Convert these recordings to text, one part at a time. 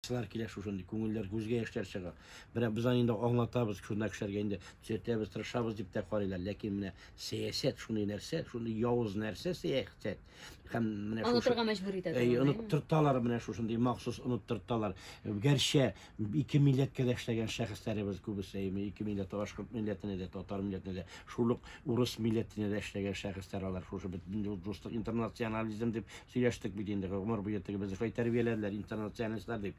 Кызлар килә шушындый, күңелләр, күзгә яшьләр чыга. Менә без аны инде аңлатабыз, журналистларга инде төзәтәбез, тырышабыз дип тә карыйлар. Ләкин менә сәясәт шундый нәрсә, шундый явыз нәрсә сәясәт. Һәм менә шушы... Онытырга мәҗбүр итә торган. Әй, оныттырталар менә шушындый, махсус оныттырталар. Гәрчә ике милләткә дә эшләгән шәхесләребез күбесе, ике милләт, башкорт милләтенә дә, татар милләтенә дә шул ук Урыс милләтенә дә эшләгән шәхесләр алар, шушы бөтен юл дуслык, интернационализм дип сөйләштек бит инде, гомер буе тегебезне шулай тәрбияләделәр, интернационалистлар дип.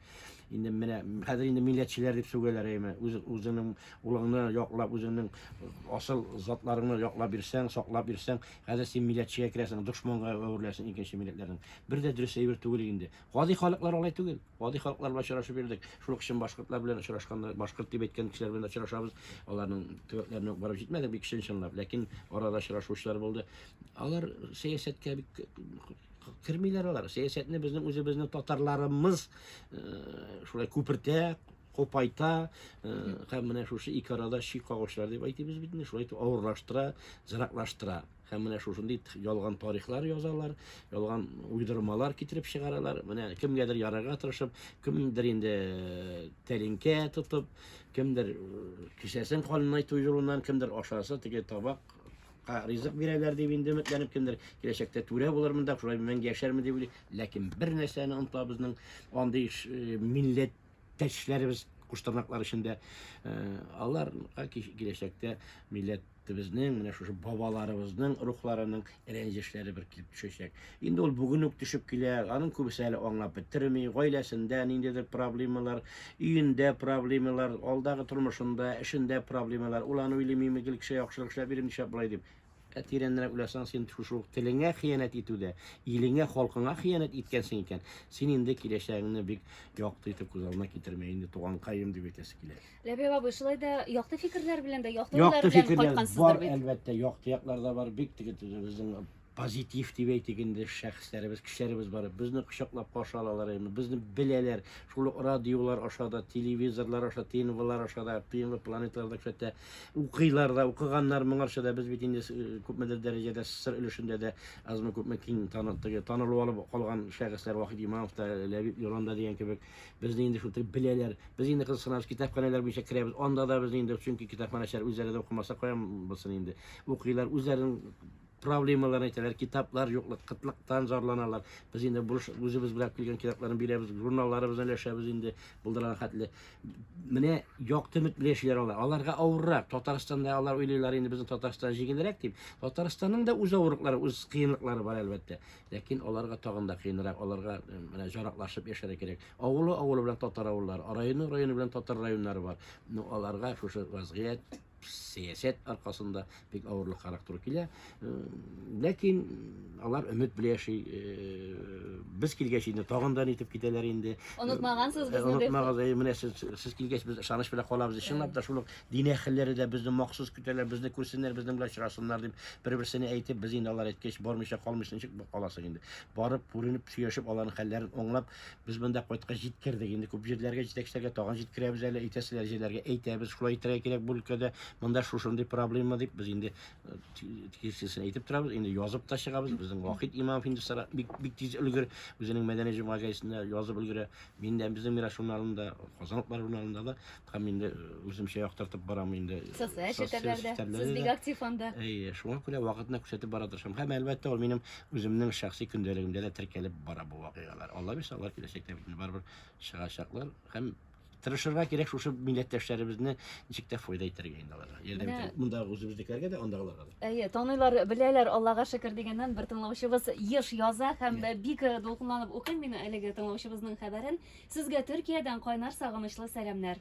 Инде менә хәзер инде милләтчеләр дип сүгәләр, әйеме? Үз, үзеңнең улыңны яклап, үзеңнең асыл затларыңны яклап йөрсәң, саклап йөрсәң, хәзер син милләтчегә керәсең, дошманга әвереләсең икенче милләтләрнең. Бер дә дөрес әйбер түгел инде. Гади халыклар алай түгел. Гади халыклар белән очрашып йөрдек. Шул ук чын башкортлар белән очрашканда, башкорт дип әйткән кешеләр белән дә очрашабыз. Аларның төбәкләренә үк барып җитмәдек, бик чын-чынлап. Ләкин арада очрашучылар булды. Алар сәясәткә бик кермиләр алар. Сәясәтне безнең үзебезнең татарларымыз шулай күпертә, купайта һәм менә шушы ике арада чи кагучылар дип әйтибез бит инде, шулай итеп авырлаштыра, зыраклаштыра. Һәм менә шушындый ялган тарихлар язалар, ялган уйдырмалар китереп чыгаралар. Менә кемгәдер ярарга тырышып, кемдер инде э, тәлинкә тотып, кемдер э, кесәсен канынайту юлыннан, кемдер ашасы теге табак ризык бирәләр дип инде өметләнеп кемдер киләчәктә түрә булырмын да шулай мәңге яшәрмен дип уйлый ләкин бер нәрсәне оныта безнең андый э, милләттәшләребез куштырнаклар эчендә алар киләчәктә милләт Безнең, менә шушы бабаларыбызның рухларының рәнҗешләре бер килеп төшәчәк. Инде ул бүген үк төшеп килә, аның күбесе әле аңлап бетерми, гаиләсендә ниндидер проблемалар, өендә проблемалар, алдагы тормышында, эшендә проблемалар, ул аны уйлый, мин гел кешегә яхшылык эшләп йөрим, нишләп болай дип. Ә тирәнрәк уйласаң, син шушы ук телеңә хыянәт итүдә, илеңә, халкыңа хыянәт иткәнсең икән, син инде киләчәгеңне бик якты итеп күз алдына китермә, инде туганкаем дип әйтәсе килә. Ләбиб абый, шулай да якты фикерләр белән дә, якты уйлар Якты белән фикерләр бар, кайткансыздыр бит. әлбәттә, якты яклар да бар. Бик теге теге безнең позитив дип әйтик инде шәхесләребез, кешеләребез бар. Безне кочаклап каршы алалар, яме, безне беләләр. Шул ук радиолар аша да, телевизорлар аша, ТНВлар аша да, ТНВ планеталарда күрсәтә. Укыйлар да, укыганнар моңарча да без бит инде с- э, күпмедер дәрәҗәдә сыр өлешендә дә азмы күпме киң таны, теге, танылу алып калган шәхесләр Вахит Имамов та, Ләбиб Юран да дигән кебек. Безне инде шул тел беләләр. Без инде кызыксынабыз, китапханәләр буенча керәбез. Анда да без инде, чөнки китапханәчеләр үзләре дә укымаса кая булсын инде. Укыйлар, үзләренең проблемаларын әйтәләр, китаплар юклык, кытлыктан зарланалар. Без инде бурыч үзебез белән килгән китапларны бирәбез, журналларыбызны өләшәбез инде булдырган хәтле. Менә якты өмет белән яшиләр алар. Аларга авыррак. Татарстанда алар уйлыйлар инде безнең Татарстан җиңелрәк дип. Татарстанның да үз авырлыклары, үз кыенлыклары бар әлбәттә. Ләкин аларга тагын да кыенрак, аларга менә җараклашып яшәргә кирәк. Авылы авылы белән татар авыллары, районы районы белән татар районнары бар. Ну, аларга шушы вазгыять, сәясәт аркасында бик авырлыкларак туры килә. Э, ләкин алар өмет белән яши. Э, без килгәч инде тагын да нитеп китәләр инде. Онытмагансыз э, безне. Онытмагыз, менә сез, сез килгәч без ышаныч белән калабыз. Чынлап та шул ук Дин әһелләре дә безне махсус көтәләр, безне күрсеннәр, безнең белән очрашсыннар дип, бер-берсенә әйтеп, без инде алар әйткәч, бормыйча калмыйча ничек каласың инде. Барып, күренеп, сөйләшеп, аларның хәлләрен аңлап, без монда кайткач җиткердек. Инде күп җирләргә, җитәкчеләргә тагын җиткерәбез әле, әйтәселәр җирләргә әйтәбез, шулай итәргә кирәк бу өлкәдә, монда шушындый проблема дип, без инде тиешлесен әйтеп торабыз, инде язып та чыгабыз. Безнең Вахит Имамов инде сара, бик, бик тиз өлгер, үзенең мәдәни җомга гәзитендә язып өлгерә. Мин дә безнең Мирас журналында, Казан утлары журналында да Һәм инде үземчә яктыртып барам инде. Социаль челтәрләрдә. Сез бик актив анда. Әйе, шуңа күрә вакытны күрсәтеп бара тырышам. Һәм әлбәттә, ул минем үземнең шәхси көндәлегемдә дә теркәлеп бара бу вакыйгалар. Алла бирсә, алар киләчәктә бит барыбер чыгачаклар һәм тырышырга кирәк шушы милләттәшләребезне ничек тә файда итәргә инде аларга. Ярдәм итәргә. Монда үзебезнекеләргә дә, андагыларга да. Әйе, таныйлар, беләләр, Аллага шөкер дигәннән бер тыңлаучыбыз еш яза һәм бик дулкынланып укыйм мин әлеге тыңлаучыбызның хәбәрен. Сезгә Төркиядән кайнар сагынычлы сәламнәр.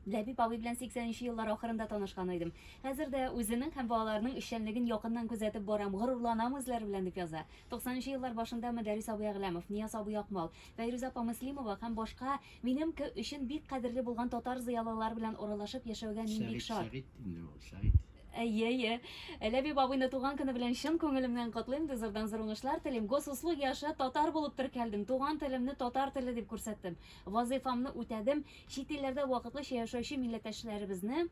Ләбиб абый белән 80 нче еллар ахырында танышкан идем. Хәзер дә үзенең һәм балаларының эшчәнлеген якыннан күзәтеп барам, горурланам үзләре белән, дип яза. 90 нчы еллар башында Мөдәррис абый Әгъләмов, Нияз абый Акмал, Фәйрүзә апа Мөслимова һәм башка минем ке өчен бик кадерле булган татар зыялылары белән аралашып яшәүгә мин бик шат. Сәгыйть, Сәгыйть инде ул, Сәгыйть. Әйе, әйе. Ләбиб абыйны туган көне белән чын күңелемнән котлыйм, ди зурдан зур уңышлар телим. Госуслуги аша татар булып теркәлдем, туган телемне татар теле дип күрсәттем. Вазыйфамны үтәдем. Чит илләрдә вакытлыча яшәүче милләттәшләребезне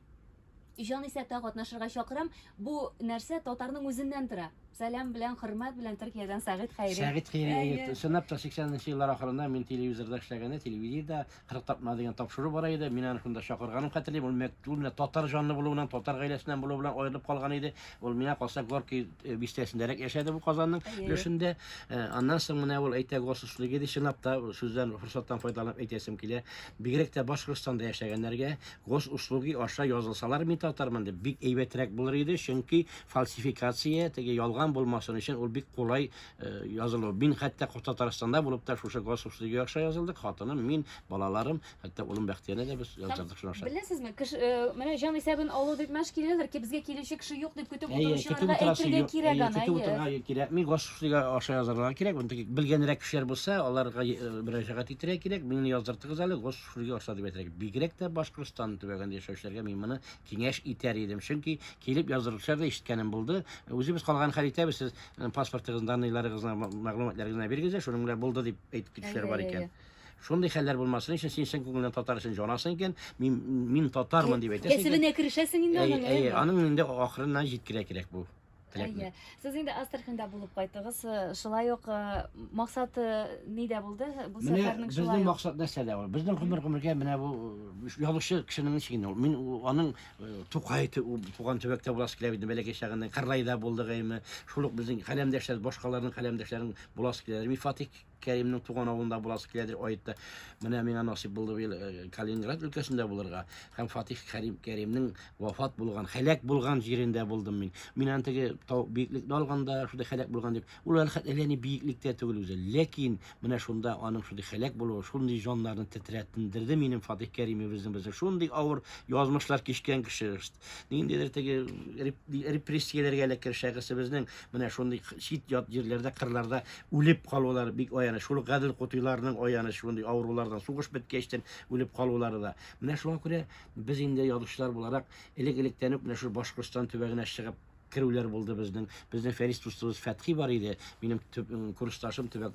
җан исәптә катнашырга чакырам. Бу нәрсә татарның үзеннән тора. Сәлам белән, хөрмәт белән Төркиядән Сәгыйть Хәйри. Сәгыйть Хәйри, әйе. Чынлап та, 80 нче еллар ахырында мин телевизорда эшләгәндә, телевидениедә, 40 тапма дигән тапшыру бара иде. Мин аны шунда чакырганым хәтерлим. Ул мәктүл менә татар җанлы булуынан, татар гаиләсеннән булу белән аерылып калган иде. Ул миңа калса Горки э, бистәсендәрәк яшәде бу Казанның өлешендә. Э, аннан соң менә ул әйтә госуслыгы ди, чынлап та сүздән форсаттан файдаланып әйтәсем килә. Бигрәк тә Башкортстанда яшәгәннәргә гос услуги аша язылсалар мин татармын дип бик әйбәтрәк булыр иде, чөнки фальсификация, теге ялган булмасын өчен ул бик кулай Э, язылу. Мин хәтта Татарстанда булып та шушы Госов студия аша язылдык. Хатыным, мин, балаларым, хәтта улым Бәхтияне дә без яздырдык шуның аша. Беләсезме, кеше э, менә җан исәбен алу дип мәш киләләр, ки безгә килүче кеше юк дип көтеп утыручыларга әйтергә кирәк аны. Көтеп утырырга кирәк. Мин Госов студия аша язырга кирәк. Монда белгәнрәк кешеләр булса, аларга э, мөрәҗәгать итәргә кирәк. Мине яздыртыгыз әле Госов студия аша дип әйтергә. Бигрәк тә Башкортстан төбәгендә яшәүчеләргә мин моны Киңәш итәр идем, чөнки килеп яздыручылар да ишеткәнем булды. Үзебез калган хәл итәбез, сез э, паспортыгыз, данныйларыгызны, ма- мәгълүматларыгызны бирегез дә, шуның белән булды дип әйтеп китүчеләр бар икән. Шундый хәлләр булмасын өчен син чын күңелдән татар өчен җанасың икән, мин, мин татармын дип әйтәсең икән. Кәсебенә керешәсең инде Әйе, аның. әйе, әйе. аның инде ахырына җиткерә кирәк бу. Теләкме? Әйе. Сез инде Астраханда булып кайтыгыз. Э, Шулай ук э, максат э, нидә булды бу Менә сәфәрнең безнең шулай ук? максат нәрсәдә ул? Безнең гомер гомергә менә бу э, язучы кешенең ничек ул? Мин у- аның э, Тукай тө- у- туган төбәктә буласы килә иде бәләкәй чагында. Кырлайда булдыгайны. Шул ук безнең каләмдәшләр, башкаларның каләмдәшләрен буласы килә. Мифатик Кәримнең туган авылында буласы киләдер аетта. Менә миңа насыйп булды быел э, Калининград өлкәсендә булырга һәм Фатих Кәрим Кәримнең вафат булган, хәләк булган җирендә булдым мин. Мин аны теге тау биеклекне алганда шундый хәләк булган дип, ул әле хәтта әллә ни биеклектә түгел үзе. Ләкин менә шунда аның шундый хәләк булуы, шундый җаннарны тетрәтендерде минем Фатих Кәримебезнең безнең шундый авыр язмышлар кичкән кеше. Ниндидер теге репрессияләргә әле кершәгесебезнең менә шундый чит ят җирләрдә, кырларда үлеп калулары бик аяныч. Шул гадел кутыйларның аяныч шундый авырулардан сугыш беткәчтен үлеп калулары да. Менә шуңа күрә без инде язучылар буларак элек-электән үк менә шул Башкортстан төбәгенә чыгып, керүләр булды безнең. Безнең Фәрис дустыбыз Фәтхи бар иде. Минем төп курсташым, төбәк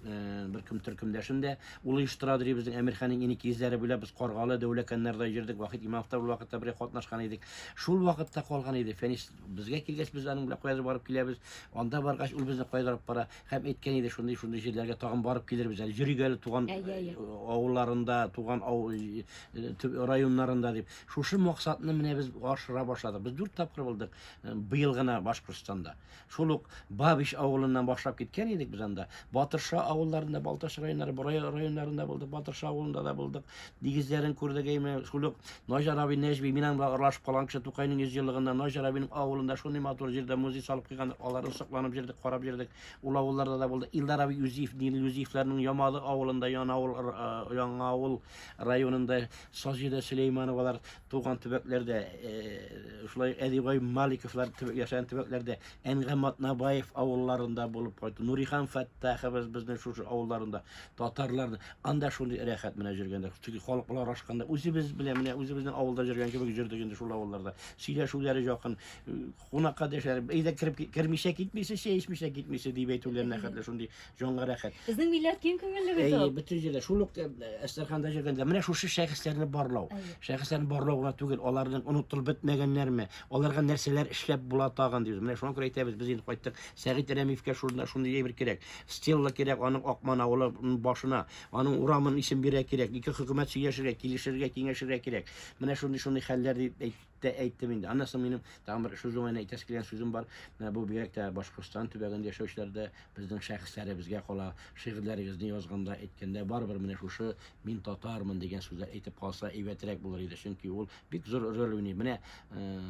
бер кем төркемдәшем дә. Ул оештыра ди безнең Әмирханның иник йөзләре буйлап без Каргалы, Дәүләкәннәрдә йөрдек. Вахит Имамов та бер вакытта бергә катнашкан идек. Шул вакытта калган иде. Фәнис безгә килгәч без аның белән кайдыр барып киләбез. Анда баргач ул безне кайдыр алып бара һәм әйткән иде шундый шундый җирләргә тагын барып килербез әле. Йөрик әле туган авылларында, туган районнарында дип. Шушы максатны менә без ашыра башладык. Без дүрт тапкыр булдык. быел гына Башкортстанда. Шул ук Бабич авылыннан башлап киткән идек без анда. Батырша авылларында, Балтач районнары, Борай районнарында булдык, Батырша авылында да булдык. Дигезләрен күрдек әйме. Шул ук Наҗар абый Нәҗби минем белән аралашып калган кеше Тукайның 100 еллыгында Наҗар абыйның авылында шундый матур җирдә музей салып куйган, аларны сокланып җирдек, карап җирдек. Ул авылларда да булды. Илдар абый Юзиф, Нил Юзифләрнең Ямалы авылында, Яна авыл, Яңа авыл районында, Сазида Сөләймановалар, туган төбәкләрдә шулай әдибай маликовлар яшәгән төбәкләрдә әнгә матнабаев авылларында булып кайтты нурихан фәттахыбыз безнең шушы авылларында татарлар анда шундый рәхәт менә җөргәндә чөнки халык белән аралашканда үзебез белән менә үзебезнең авылда җөргән кебек җөрдек инде шул авылларда сөйләшүләре якын Кунакка дәшәләр, әйдә кереп ки- кермичә китмисе, чәй эчмичә китмисе дип әйтүләренә хәтле шундый җанга рәхәт. Безнең милләт киң күңелле бит Әйе, ул. бөтен җирдә, шул ук э, Әстерханда йөргәндә, менә шушы шәхесләрне барлау. Әйе. Шәхесләрне барлау гына түгел, аларның онытылып бетмәгәннәрме, аларга нәрсәләр эшләп була тагын дибез. Менә шуңа күрә әйтәбез, без инде кайттык, Сәгыйть Рәмиевкә шунда шундый әйбер кирәк. Стелла кирәк аның Акман авылы м, башына, аның урамын исем бирә кирәк. Ике хөкүмәт сөйләшергә, килешергә, киңәшергә кирәк. Менә шундый-шундый хәлләр дип әйт. тә әйттем инде. Аннан соң минем тагын бер шушы уңайына әйтәсе килгән сүзем бар. Менә бу бигрәк тә Башкортстан төбәгендә яшәүчеләрдә безнең шәхесләребезгә кала. Шигырьләрегезне язганда, әйткәндә барыбер менә шушы мин татармын дигән сүзләр әйтеп калса әйбәтрәк булыр иде. Чөнки ул бик зур роль уйный. Менә э,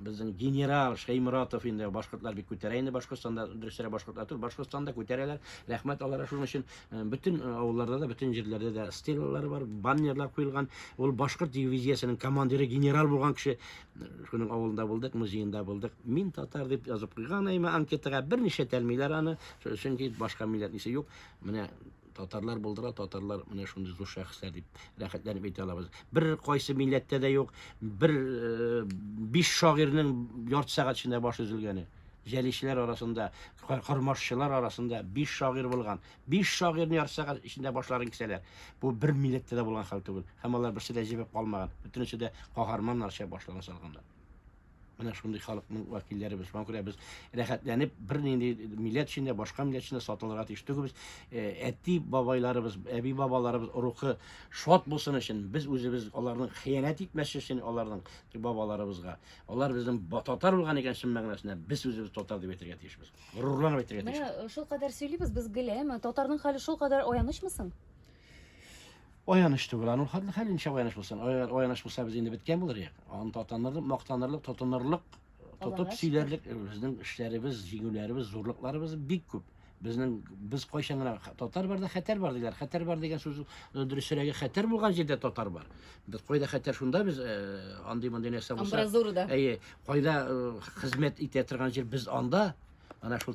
безнең генерал Шәйморатов инде башкортлар бик күтәрә инде Башкортстанда, дөресрәк башкортлар түгел, Башкортстанда күтәрәләр. Рәхмәт аларга шуның өчен. Э, бөтен э, авылларда да бөтен җирләрдә дә стелалар бар баннерлар куелган ул башкорт дивизиясенең командиры генерал булган кеше э, шуның авылында булдык музеенда булдык мин татар дип язып куйган әйме анкетага берничә тәлмиләр аны чөнки башка милләтнисе юк менә татарлар булдыра татарлар менә шундый зур шәхесләр дип рәхәтләнеп әйтә алабыз бер кайсы милләттә дә юк бер биш шагыйрьнең ярты сәгать эчендә башы өзелгәне җәлишләр арасында, кормашчылар арасында биш шагыйрь булган. Биш шагыйрьне ярты сәгать эчендә башларын кисәләр. Бу бер милләттә дә булган хәл түгел. Һәм алар берсе дә җебеп калмаган. Бөтенесе дә каһарманнарча башларын салганнар. Менә шундый халыкның вәкилләре без. Шуңа күрә без рәхәтләнеп, бернинди милләт өчен дә, башка милләт өчен дә сатылырга тиеш түгелбез. Э, әти бабайларыбыз, әби бабаларыбыз рухы шат булсын өчен, без үзебез аларның хыянәт итмәс өчен аларның бабаларыбызга Алар безнең ба- татар булган икән чын мәгънәсендә, без үзебез татар дип әйтергә тиешбез. Горурланып әйтергә Менә тиешбез. э, шулкадәр сөйлибез без гел, әмма татарның хәле шулкадәр аянычмы соң? Аяныч түгел, аның хәтле хәл ничә аяныч булсын. Ая- Аяныч булса без инде беткән булыр идек. Аны татаныр, мактанырлык, тотынырлык, тотып Аллага сөйләрлек э, безнең эшләребез, җиңүләребез, зурлыкларыбыз бик күп. Безнең без кайчан гына татар барда хәтәр бар диләр. Хәтәр бар дигән сүз э, дөресрәге хәтәр булган җирдә татар бар. Без кайда хәтәр шунда без э, андый мондый нәрсә булса. Амбразурада. Әйе, кайда э, хезмәт итә торган җир без анда. Ана шул